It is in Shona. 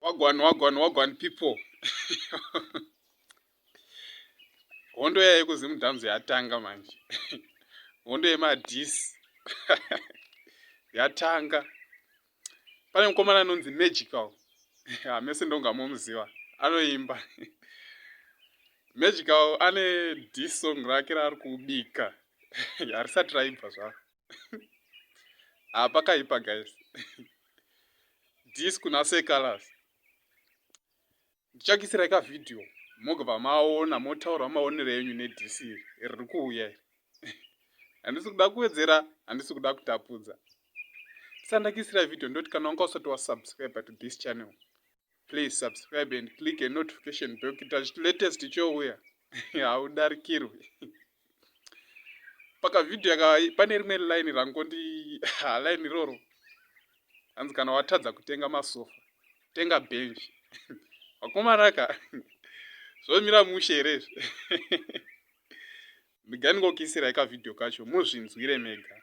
wagwan wagwan wagwan people hondo yaye kuzimudhamzi yatanga manje hondo yemadis yatanga pane mukomana anonzi magical hamese ndonga momuziva anoimba magical ane disong rake raari kubika harisati raibva zvaro ah pakaipa guys this kuna say colors ndichakisirai ka video mogova maona motaura maonero enyu nedc riri kuuya iri handisi kuda kuwedzera handisi kuda kutapudza tisandakisirai video ndoti kana wanga usati wasubscribe to this channel please subscribe and click a notification bell kuita zviti latest chouya haudarikirwi pakavideo yaka pane rimwe line rangondi line iroro hanzi kana watadza kutenga masofa tenga benji vakomaraka zvomira mushe here izvi ndiganingokisirai kavideo kacho muzvinzwire mega